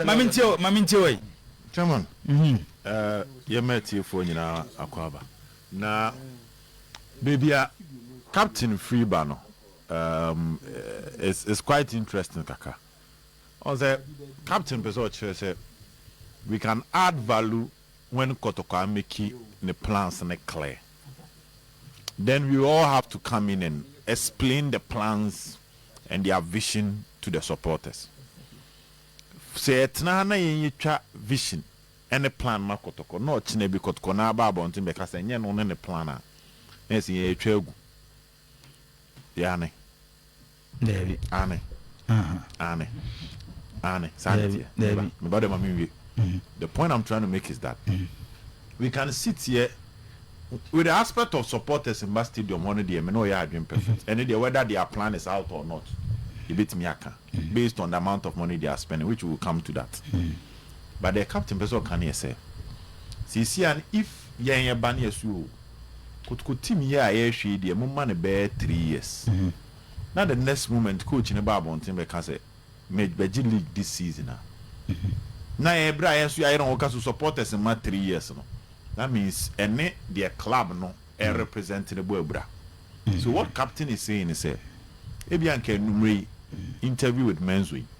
ma me ntie o ma me ntie o yi. Chairman, yɛma atiefoɔ nyinaa akwaaba. Na baabi a captain firi ba no is quite interesting kakra. Ɔhu sɛ captain pɛ sɛ ɔkyerɛ sɛ we can add value when Kɔtɔkɔ Ameki ne plans no clear. then we all have to come in and explain the plans and their vision to the supporters. Sɛ yɛtena ha na yɛnyɛtwa vision ne plan ma kɔtɔkɔ na ɔkyena bi kɔtɔkɔ na aba abɔnten bɛka sɛ nyɛ no ne ne plan a, na ɛsɛ yɛatwa agu. Aane. Daabi. Aane. Aha. Aane. Aane. Saa na ɛteɛ. Daabi. Me ba de ma menwie. The point I'm trying to make is that we can sit here with the aspect of supporters mba stadium hɔ no deɛ me ne ɔyɛ adwene perfect. Ɛno deɛ whether their plan is out or not yɛbɛtumi aka based on the amount of money they are spending which we will come to that. But deɛ captain pɛ sɛ ɔka no yɛ sɛ seesei a no if yɛn yɛba no yɛso o. Kotoko team yi a yɛrehwɛ yi deɛ mo ma no bɛyɛ three years na the next moment coach no ba abɔnten bɛka sɛ me bɛgye league this season a na yɛn berɛ a yɛn nso yɛayere ho ka so supporters mma three years no that means ɛne deɛ club no represent no bɔ abira so what captain is saying ne sɛ ebia nka anummerɛ yi interview with Menzo yi.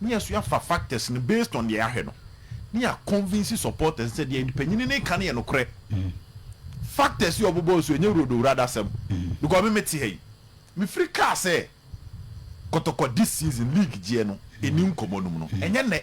Ne yɛso yɛafa factors no based on deɛ yɛahwɛ no ne yɛ convince supporters no sɛ deɛ mpanyini no reka no yɛ nokorɛ. Factors yi a ɔbobɔɔ so yi ɛnyɛ Rodo Wurada asɛm because me mete ha yi mefiri kaa sɛ Kɔtɔkɔ this season league gyeɛ no ɛni nkɔmmɔ no mu no ɛnyɛ nnɛ.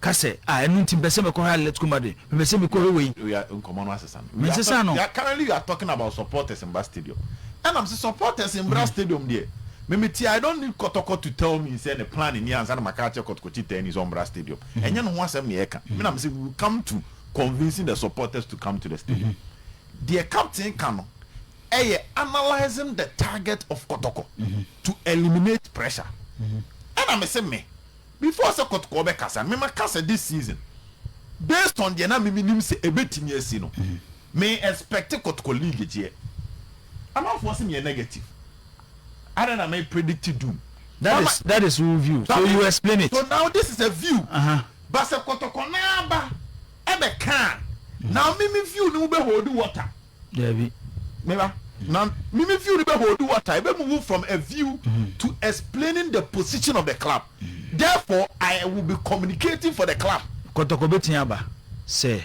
Ka sɛ, Ah, ɛno nti mepɛ sɛ mekɔhwɛ Atletico Madrid. Mepɛ sɛ mekɔhwɛ wei. We are nkɔmɔ no asesa no we are Mensesa no. talk currently we are talking about supporters mmra stadium ɛna mese supporters mmra stadium deɛ me mete I don't need kɔtɔkɔ to tell me sɛ ne plan nie ansa na maka akyerɛ kɔtɔkɔkyitani sɛ ɔmmra stadium ɛnyɛ ne ho asɛm na yɛreka me na mese we will come to convincing the supporters to come to the stadium deɛ captain ka no ɛyɛ analysing the target of kɔtɔkɔ to eliminate pressure ɛna mese me. Before sɛ kɔtɔkɔ bɛ kasa no me ma kasa this season based on deɛ na me me nim sɛ ɛbɛ timi asi no me expect kɔtɔkɔ league gyeɛ amanfoɔ se me yɛ negative ana na me predict doom that is that is wo view so you explain it so now this is a view but sɛ kɔtɔkɔ no ara ba ɛbɛ ka a now me me view no wo bɛ hold water. Dabi. Me ba, na me me view no bɛ hold water, ebe move from a view to explaining the position of the club. Therefore, I will be communicating for the club. Kɔtɔkɔ bɛtumi aba sɛ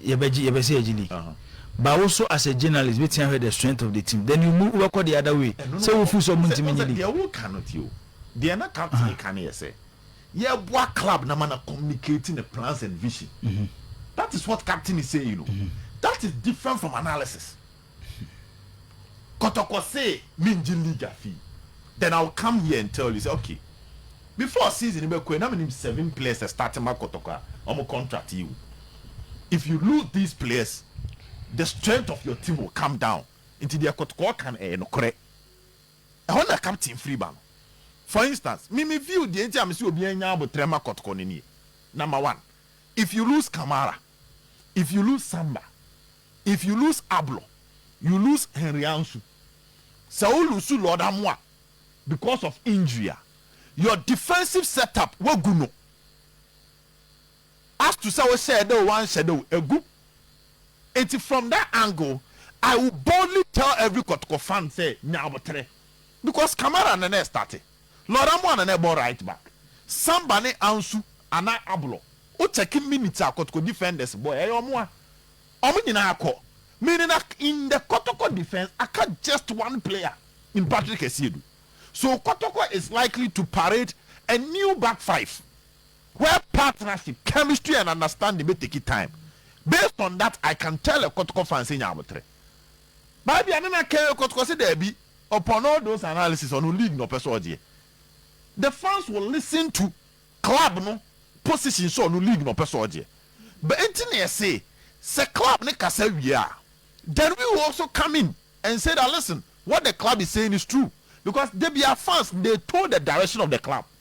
yɛbɛgye, yɛpɛ sɛ yɛgye league. But wo nso as a journalist bɛtumi ahwɛ the strength of the team. Then you move, wobɛkɔ the other way. Ɛno no Sɛ wo feel sɛ ɔmo ntumi nye sɛ, deɛ league. wo ka no, tie o, deɛ na captain ka no yɛ sɛ, Yɛboa club na ma na communicate ne plans and vision that is what captain is saying o that is different from analysis kɔtɔkɔ se me ngye league afii then I will come here and tell you sɛ okay before season no bɛkɔ yi na me nim seven players a start ma kɔtɔkɔ a ɔmo contract yi wu if you lose these players the strength of your team will come down nti deɛ kɔtɔkɔ ka no ɛyɛ nokorɛ. Ɛhɔ na captain firi ba no. For instance, me me view deɛ nti a me se obiara nnya aboterɛ mma kɔtɔkɔ no nie, Number one, if you lose Kamara, if you lose Samba, if you lose Ablo, you lose Henry Ansu, sɛ wo lose Lord Amoah because of injury a, your defensive set up, woagu no. As to sɛ wohyɛɛ da o woanhyɛ da o, agu. Nti from that angle, I will boldly tell every kɔtɔkɔ fan sɛ nya aboterɛ. Because Kamara na na ɛstarte, Laura Moa na na ɛbɔ right back, Samba ne Ansu anaa Ablo, wo check minutes a kɔtɔkɔ defenders bɔɛ, ɛyɛ ɔmo a ɔmo nyinaa kɔ. Meaning a in the kɔtɔkɔ defence aka just one player in Patrick Asiedu. So kɔtɔkɔ is likely to parade a new back five Where partnership, chemistry and understanding bɛ take time, based on that I can tell a kɔtɔkɔ fan sɛ nya aboterɛ. Baa bi a na na kɛɛ kɔtɔkɔ sɛ daabi, upon all those analysis ɔno league na ɔpɛ sɛ ɔgyeɛ. The fans will listen to club no position sɛ ɔno league na ɔpɛ sɛ ɔgyeɛ. But ɛnti na yɛse sɛ club no kasa wie a, then we will also come in and say that listen, what the club is saying is true because da biara fans they told the direction of the club.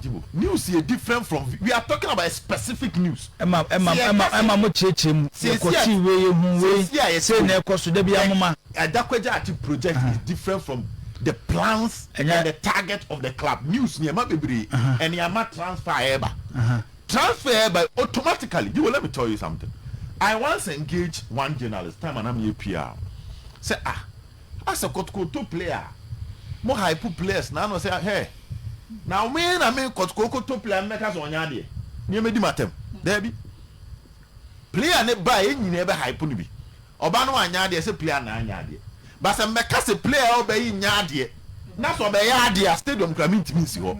Jibo, news yɛ different from we are talking about a specific news. Ɛma ɛma ɛma ɛma mo kyerɛkyerɛ mu yɛ kɔ tii wei yɛ hu wei sɛ na ɛkɔ so dabi a mo ma. Adakwagya ati project is different from the plans and the target of the club news ni ɛma bebree ɛni ama transfer a ɛɛba transfer ɛɛba automatically Jibo let me tell you something I once engage one journalist time a na mi yɛ PR sɛ ah. Asɛ kɔtokɔtɔ play a mo hype players na ano sɛ hɛɛ na me na me kɔtokɔtɔ play a me bɛka sɛ ɔnyɛ adeɛ neɛ mɛdi matɛm daabi player ne ba a yɛ nyinaa bɛ hype no bi ɔba no anyɛ adeɛ sɛ player na anyɛ adeɛ but sɛ mɛka sɛ player ɔba yi nyɛ adeɛ na sɛ ɔbɛyɛ adeɛ a stadium kora mentimi nsi hɔ.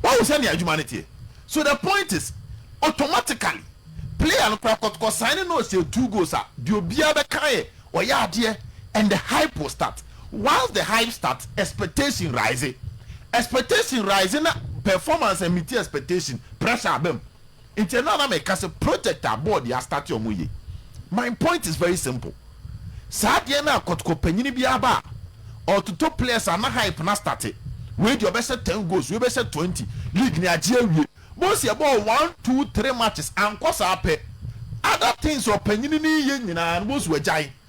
Wahu sɛnea adwuma no teɛ? So the point is automatically player no koraa kɔ sign no ɔsɛ two goals a deɛ obiara bɛka ayɛ ɔyɛ adeɛ and the hype will start once the hype start expectation rise expectation rise na performance and meeting expectation pressure aba mu. Nti ɛno a na meka sɛ project a board yi astarte ɔmo ye. My point is very simple, saa adeɛ no a kɔtokɔ panyini bi aba a ɔɔtoto players a na hype no astarte, wei deɛ ɔbɛhyɛ ten goals, wei bɛhyɛ twenty, league no agye awie. Boys yɛbɔɔ one, two, three matches ankɔ saa pɛ, other things ɔpanyini no reyɛ nyinaa no boys wagyae.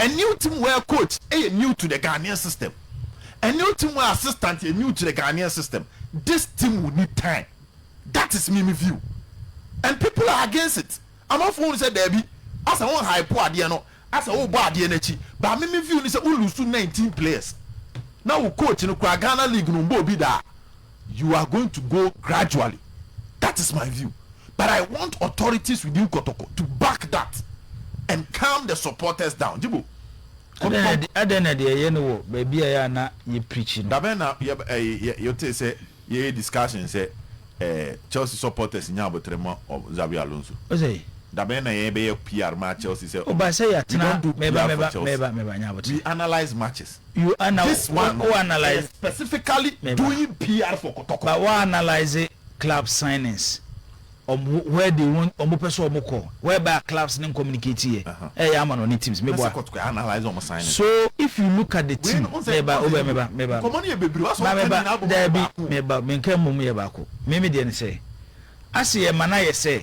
A new team where coach yɛ new to the Ghanaian system, a new team where assistant yɛ new to the Ghanaian system, this team will need time that is me me view and people are against it amanfoɔ hunu sɛ daabi asɛ wo nhype adeɛ no asɛ wo bɔ adeɛ no akyi but me me view ne sɛ wo lose 19 players na wo coach no koraa Ghana league no mbɔ obi da. You are going to go gradually that is my view but I want authorities within Kotoko to back that and calm the supporters down Jibo Kotoko. Adɛn na deɛ yɛ no wɔ baabi a ɛyɛ a na yɛ preachi no. Dabɛn na yɛ ɛɛ yɛ tee sɛ yɛ yɛ discussion sɛ ɛɛ Chelsea supporters nya aboterɛ ma ɔ Xabi Alonso? Ose. Dabɛn na yɛ bɛyɛ PR ma Chelsea sɛ ɔmo? Ɔba sɛ yɛ atena. We don't do PR for Chelsea. We analyse matches. You ana wo analyse ba wa analyse club signings ɔmo where they want ɔmo pɛ sɛ ɔmo kɔ where by a clubs ne communicate yɛ ɛyɛ ama no ne teams me boa so if you look at the team me ba o bɛ me ba me ba ba me ba daabi me ba me nka mmom yɛ baako me me deɛ ne sɛ ase yɛ ma na yɛ sɛ.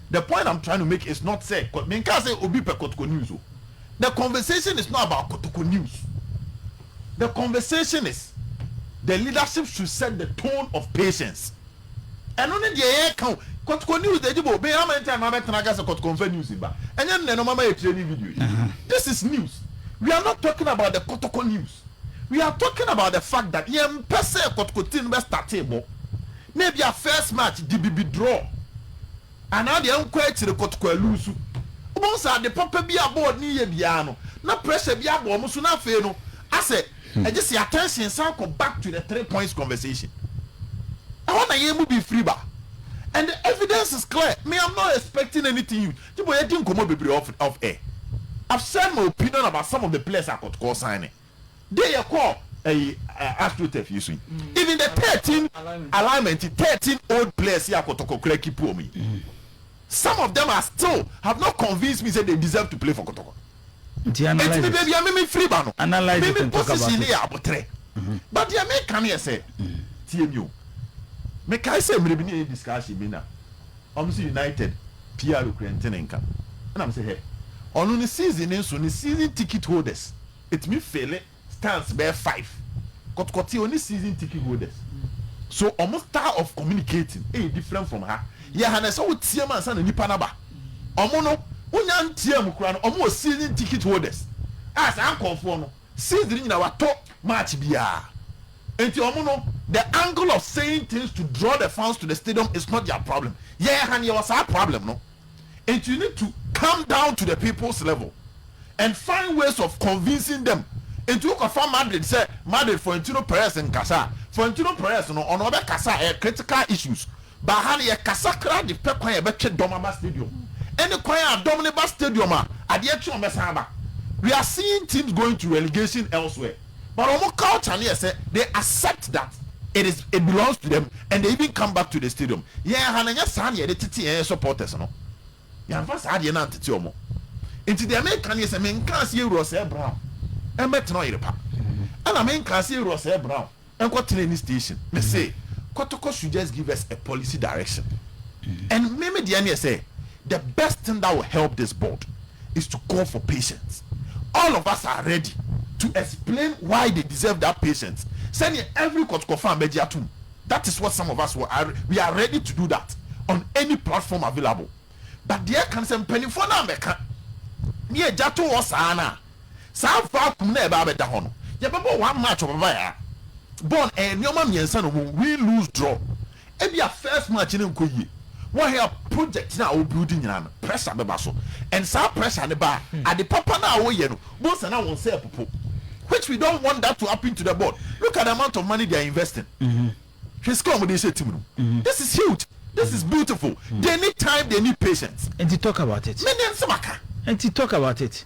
The point I'm trying to make is not sɛ menkaa sɛ obi pɛ kɔtɔkɔ news o, the conversation is not about kɔtɔkɔ news, the conversation is the leadership should set the tone of patience. Ɛno ne deɛ yɛreka o, kɔtɔkɔ news deɛ gye bɔ o, me how many time na mɛtena aka sɛ kɔtɔkɔ nfa news mba, ɛnyɛ nnɛ na ɔma ma yɛ training video yi, this is news, we are not talking about the kɔtɔkɔ news. We are talking about the fact that yɛn mpɛ sɛ kɔtɔkɔ team no bɛ startee bɔ na ebi a first match de bibi draw anaa deɛ nkɔ akyire kɔtɔkɔ aluusu. Wobɛhu sɛ ade papa bi a board no yɛ biara no na pressure bi abɔ wɔn so na afei no asɛ ɛgye sɛ attention san kɔ back to the three points conversation. Ɛhɔ na yɛn mu bi firi ba and the evidence is clear. Me I'm not expecting anything huge. Gye bɔ yɛdi nkɔmɔ bebree off off air. I've said my opinion about some of the players a Kotoko signed. Deɛ yɛ kɔɔ ɛyi eh, Astro Turf yi so yi. Even the thirteen alignment yi, thirteen old players yi a Kotoko koraa keep wɔn yi. Some of them are still have not convinced me sɛ they deserve to play for Kotoko. Nti analyse it. Nti me baabi a me me firi ba no. Analyse it and talk about it. Me me position no yɛ aboterɛ. But deɛ me ka no yɛ sɛ, tie mi o. Me kae sɛ mmerɛ bi ne yɛ yɛ discussion bi na wɔn sɛ United PR kura nti ne nka. Ɛna me sɛ hɛ. Ɔno ne season ne nso ne season ticket holders ɛtumi fele. stands bɛyɛ five kɔtɔkɔte ɔne season ticket holders so ɔmo style of communicating ɛyɛ different from ha yɛ ha na ɛsɛ wo team ansa na nipa no aba ɔmo no wonya nteam koraa no ɔmo wɔ season ticket holders a saa nkɔɔfoɔ no season nyina watɔ match biaa nti ɔmo no the angle of saying things to draw the fans to the stadium is not their problem yɛ ha no yɛwɔ saa problem no. Enti you need to come down to the people's level and find ways of convincing them Enti wo kɔ fa Madrid sɛ Madrid Florentino Perez nkasa a Florentino Perez no ɔno ɔbɛ kasa a ɛyɛ critical issues But ha no yɛ kasa koraa de pɛ kwan a yɛbɛ twe dɔm aba stadium Ɛne kwan a dɔm no ba stadium a adeɛ kye wɔn bɛsan aba We are seeing teams going to relegation elsewhere. But ɔmo culture no yɛ sɛ they accept that it is it belongs to them and they even come back to the stadium. Yɛn ha no ɛnyɛ saa na yɛde tete yɛn supporters no. Yɛanfa saa adeɛ no antete ɔmo. Nti deɛ meka no yɛ sɛ menkaa sɛ yɛwura Osɛɛ Brown mmɛtena Ɔyerepa. Ɛna menkaa sɛ yɛwura Osɛɛ Brown nkɔ tena any station. Me se Kotoko should just give us a policy direction. And me me deɛ no yɛ sɛ the best thing that will help this board. is to call for patience all of us are ready to explain why they deserve that patience sɛdeɛ every kɔtokɔfaa bɛgye atom that is what some of us were are we are ready to do that on any platform available but deɛ ɛka no sɛ mpaninfoɔ no ammɛka ne agya to hɔ saa no a saa vacuum no a ɛbɛa bɛda hɔ no yɛbɛbɔ one match ɔbabayaa bɔɔl no ɛyɛ nnoɔma mmiɛnsa na ɔmo we lose draw Ebia first match no nkɔ yie, woayɛ project no a wo build nyinaa no pressure bɛba so and saa pressure no ba a, ade papa no a woyɛ no bohu sɛ na wo nsa repopo which we don't want that to happen to the board. Look at the amount of money they are investing. Hwɛ sika a wɔde rehyɛ team no mu. This is huge. This is beautiful. They need time, they need patience. Nti talk about it. Menim sɛ maka. Nti talk about it.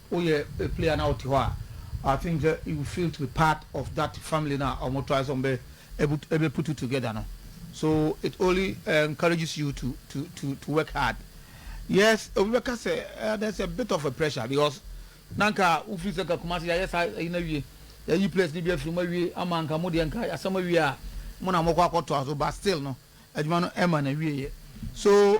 Woyɛ a player na wote hɔ a, I think sɛ you feel to be part of that family no a wɔn try sɛ wɔn bɛ ɛbu ɛbɛ put you together no. So it only encourages you to to to to work hard. Yes, obi bɛ ka sɛ eh, there's a bit of a pressure because na nka wofiri sɛ nka Kumasi yɛ ayɛ saa ɛyi na wie, yɛ ayi players ni bi afiri mu awie ama nka mo deɛ nka yɛ asɛm awie a mo na mo kɔ akɔ to aso but still no adwuma no ɛma na wie yɛ so.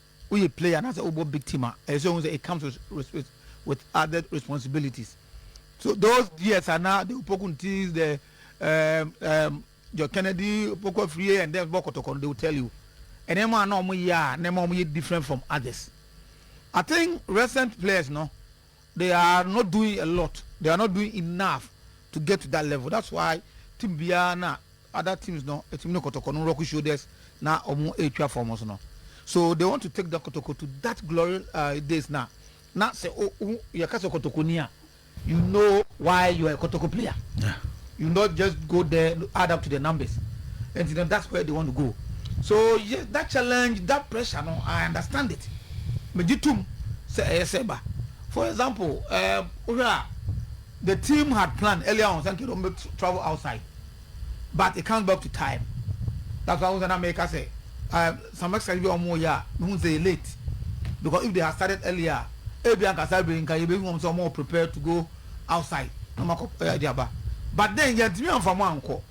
Woyɛ player anaasɛ wobɔ big team a, ɛsɛ sɛ wohu sɛ it comes with, with, with, with other responsibilities. So those years a na they will poke ntis the um, um, John Kennedy poke afiri and then bɔ kɔtɔkɔ no, they will tell you. Nneɛma a na wɔyɛ a nneɛma wɔyɛ different from others. I think recent players no, They are not doing a lot, they are not doing enough to get to that level that's why team biara na other teams no ɛtumi ne kɔtɔkɔ no rock shoulders na ɔmo ɛretwa fam so no so they want to take the kɔtɔkɔ to that glory uh, days na na sɛ o o yɛka sɛ kɔtɔkɔni a you know why you are a kɔtɔkɔ player. Yeah. You not just go there add up to their numbers nti no that's where they want to go so yes that challenge that pressure no I understand it megye tom sɛ ɛyɛ sɛ ba for example eh, wohwɛ a the team had planned earlier on sɛ nkɛ dɔm bɛ travel outside but it comes back to time that's why wosɛ na meka sɛ eh, some exercise bi a wɔn yɛ a mehu sɛ yɛ late because if they had started earlier ebi ankasa bere nka yɛbɛhu wɔn sɛ wɔn prepared to go outside na ɔmo akɔ ɛɛ de aba but then yɛntumi anfa ɔmo ankɔ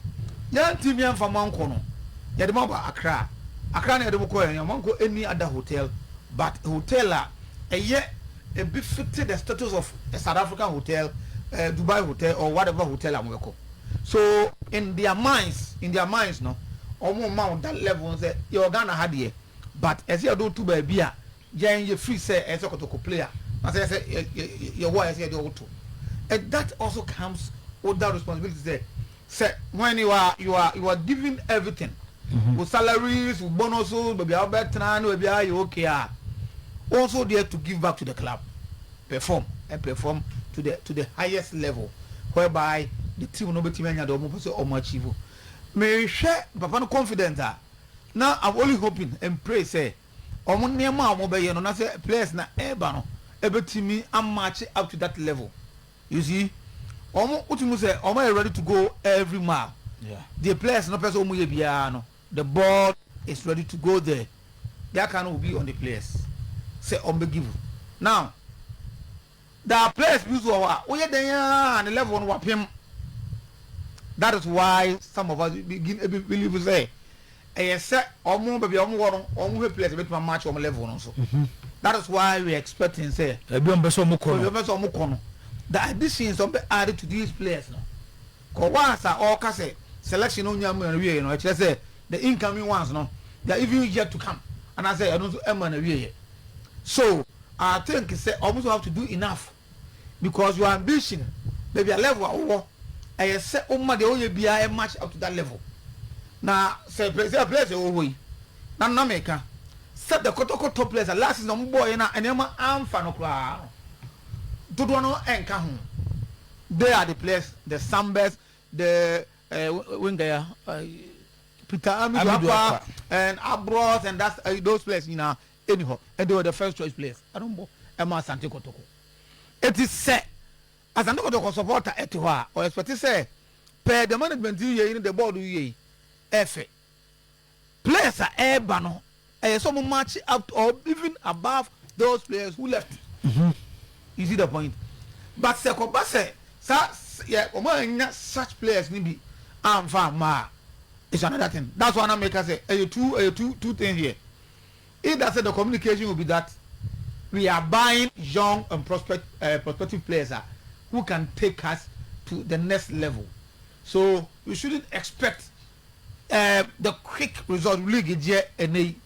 yɛntumi anfa ɔmo ankɔ no yɛde ɔmo aba Accra Accra na yɛde ɔmo kɔɛ ɔmo ankɔ any other hotel but hotel a ɛyɛ ebi fete the status of a South African hotel ɛɛ Dubai hotel or whatever hotel a ɔmo bɛkɔ so. In their minds in their minds no ɔmo mma wo that level no sɛ yɛwɔ Ghana ha deɛ but ɛsɛ yɛde wo to baabi a. Yɛn yɛ free sɛ ɛyɛ sɛ kotoko player na sɛ ɛyɛ sɛ yɛwɔ a ɛyɛ sɛ yɛde ɔwo to and that also comes with that responsibility sɛ sɛ when you are you are you are giving everything mm-hmm. with salaries with bonuses baabi a wobɛtena ne baabi a yɛ okay a wɔn nso deɛ to give back to the club perform and perform to the to the highest level whereby the team no bɛtumi anya deɛ wɔn pɛ sɛ wɔn achieve mehwɛ papa no confident a now i'm only hoping and pray sɛ. wɔn nneɛma a wɔbɛyɛ no na sɛ players na ɛreba no ɛbɛtumi amatche up to that level you see wɔn wotumi sɛ wɔn yɛ ready to go every mile deɛ players no pɛ sɛ wɔn yɛ biara no the ball is ready to go there deɛ aka no will be on the players sɛ wɔn bɛ give now. Daa players bi nso wɔ hɔ a woyɛ dɛn ara ne level no wapem that is why some of us begin ebi believe sɛ ɛyɛ sɛ wɔn baabi a wɔn wɔ no wɔn hwɛ players ebetumi amatch wɔn level no nso mhm. that is why we are expecting sɛ ebi wɔn bɛ sɛ wɔn kɔ no ebi wɔn bɛ sɛ wɔn kɔ no the additions wɔn bɛ add to these players no kɔ once a ɔka sɛ selection no nya mu na wie no ɛkyerɛ sɛ the incoming ones no they are even yet to come anaasɛ ɛno nso ɛma na wie yɛ so. I think sɛ ɔmo nso have to do enough because your ambition baabi a level a wo wɔ ɛyɛ sɛ wo ma deɛ wo yɛ biara ɛ match up to that level na sɛ players sɛ players a ɛwɔ hɔ yi na na me ka sɛ the kɔtɔkɔtɔ players a last season ɔmo bɔɔ yɛ na nneɛma anfa no koraa no dodoɔ no ɛnka ho they are the players the Sambers the uh, winger ya uh, Peter Amidu Amidu Akwa Akwa. and Abros and that's uh, those players nyinaa Ɛnni hɔ. They were the first choice players. Ɛno mpo, ɛma Asante Kotoko. Enti sɛ Asante Kotoko supporter te hɔ a, ɔ expect sɛ pɛɛ deɛ management yi reyɛ yi ne deɛ board reyɛ yi ɛfɛ. Players a ɛreba no, ɛyɛ sɛ wɔn match up to or even above those players who left. You see the point? But sɛ ɛkɔba sɛ saa yɛ wɔn annya such players no bi amfa amma a, it's another thing. That's why na meka sɛ ɛyɛ two ɛyɛ two two things here. If that's the communication will be that we are buying young and prospect, uh, prospective players uh, who can take us to the next level. So you shouldn't expect uh, the quick result league deɛ ɛnɛ yi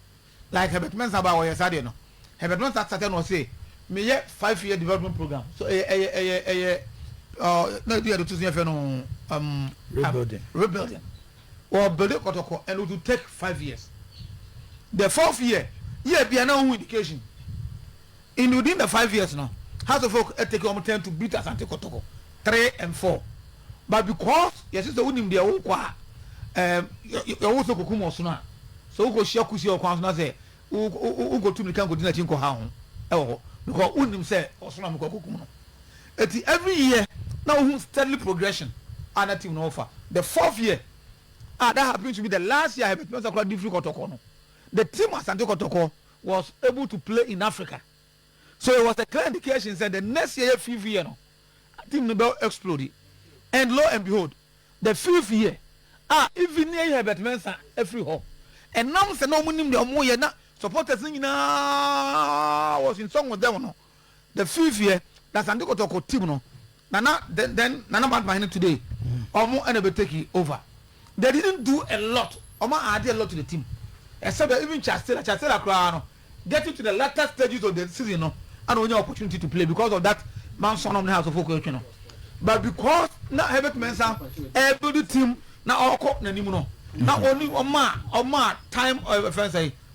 like Herbert Mensah ba wɔyɛ saa deɛ no Herbert Mensah sata na ɔse meyɛ five year development program so ɛyɛ ɛyɛ ɛyɛ ɛyɛ na ɛdi yɛde to so yɛfɛ no um, rebuilding. Um, rebuilding Ɔɔ builde kɔtɔkɔ and it will take five years. The fourth year yɛ a bia na wohu indication. In within the five years no Hearts of Oak take wɔn turn to built Asante kɔtɔkɔ three and four but because yɛse sɛ wonim deɛ wokɔ a ɛɛm yɛ wo sɛ kɔkum ɔsono a sɛ wokɔ hyia kusie wɔ kwan so na sɛ wokɔtu mirika nkɔdi n'akyi nkɔha ho ɛwɔ hɔ because wonim sɛ ɔsono a mekɔ akɔkum no Eti every year na wohu steadily progression a na team no wɔ fa. The fourth year a that happened to be the last year a Herbert Mensah kora Dufiri Kɔtɔkɔ no, the team Asante Kɔtɔkɔ was able to play in Africa. So it was a clear indication sɛ the next year yɛ fifth year no team no bɛ explode. And lo and behold, the fifth year a even yɛyi Herbert Mensah afiri hɔ, ɛnam sɛ na wɔnim deɛ wɔyɛ na supporters no nyinaa was in song with them no, The fifeɛ na Asante Kɔtɔkɔ team no na na then then Nana Mad Mahene today ɔmo ɛna bɛ take over they didn't do a lot ɔmo add a lot to the team except that even Charles Taylor Charles Taylor koraa no getting to the latter stages of the season no ɛna ɔnya opportunity to play because of that Manson nom ne House of Oak ɛtwe no but because na Herbert Mensah ɛbuild team na ɔkɔ n'anim no na ɔni ɔmo a ɔmo a time ɛfɛn sɛe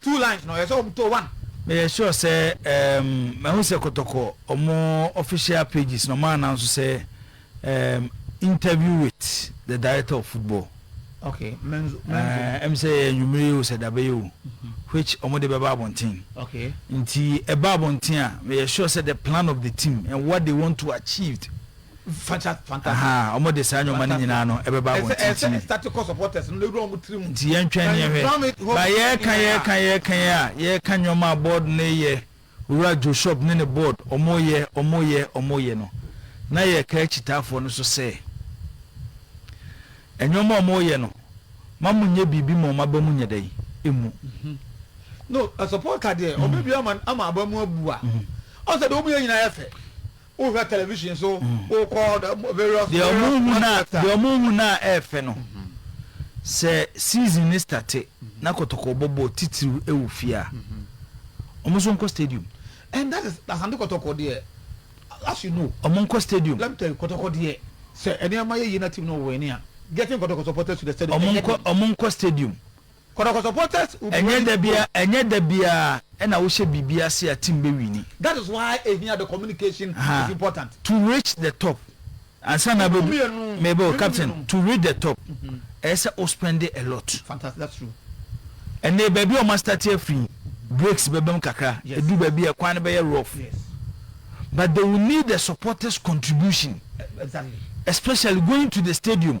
Two lines no ɔyɛ sɛ ɔmo to one. Meyɛ sure sɛ um mahu sɛ kɔtɔkɔ ɔmo official pages no ɔmo announce sɛ um interview with the director of football. Okay, menzo menzo. Eh, ɛm sɛ ɛyɛ anwummere yi o sɛ dabɛyɛ o mm-hmm. which ɔmo de bɛba abɔnten. Okay. Nti ɛba abɔnten a meyɛ sure sɛ the plan of the team and what they want to achieve wɔn de saa nneɛma no nyinaa no ɛbɛba wɔn titiri nti yɛntwɛn ne yɛhwɛ ba yɛka yɛka yɛka yɛ a yɛka nneɛma a board no yɛ owura joshop ne ne board wɔn yɛ wɔn yɛ wɔn yɛ no na yɛka akyitaafoɔ no so sɛ nneɛma a wɔn yɛ no ma mo nyɛ biribi ma wɔn aba mu nyɛ dɛ emu. Mhm. no asopɔta deɛ ɔbɛbi mhm. ama aba mu abu a mhm. ɔsɛ deɛ wɔn yɛ nyinaa yɛ fɛ. Wohwɛ television so, wokɔ various deɛ ɔmo hu na deɛ ɔmo hu na ɛɛfɛ no sɛ season ne starte na kɔtɔkɔ bɔbɔ titiriw ɛwɔ fie a ɔmo nso nkɔ stadium. And that is Asante Kɔtɔkɔ deɛ as you know ɔmo nkɔ stadium. Let me tell you Kɔtɔkɔ deɛ sɛ ɛnneɛma yɛ yie na team no win a getting Kɔtɔkɔ supporters to the stadium ɛnyɛ den. Ɔmo nkɔ stadium. Ɛnyɛ da bia ɛnyɛ da biara ɛna wohyɛ biribi ase a team bɛ wini. To reach the top ansa na abɛdu meba o captain to reach the top ɛyɛ sɛ wo spɛnde a lot. Ɛnee baabi a ɔma starte afiri breaks bɛba mu kakra ɛduru baabi a kwan no bɛyɛ rough but they will need the supporters contribution especially going to the stadium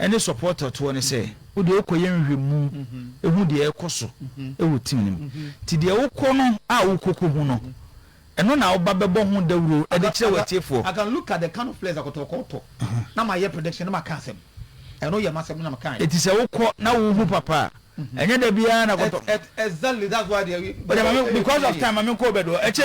ne supporter toɔ ne sɛ, wodeɛ wokɔyɛ nhwɛmu hu deɛ ɛrekɔ so wɔ team no mu, nti deɛ wokɔ no a wokɔ kɔ hu no, ɛno na woba bɛbɔ ho dawuro de kyerɛ w'atiefoɔ. I can look at the kind of players a Kɔtɔkɔ tɔ na mayɛ prediction na maka asɛm, ɛno yɛ m'asɛm na mekaeɛ. Nti sɛ wokɔ na wohu papa a, ɛnyɛ da biara na Kɔtɔ. Exactly, that's why deɛ. Wodeɛ ma me, because of time ma menkɔ Obed hɔ, ɛkyɛ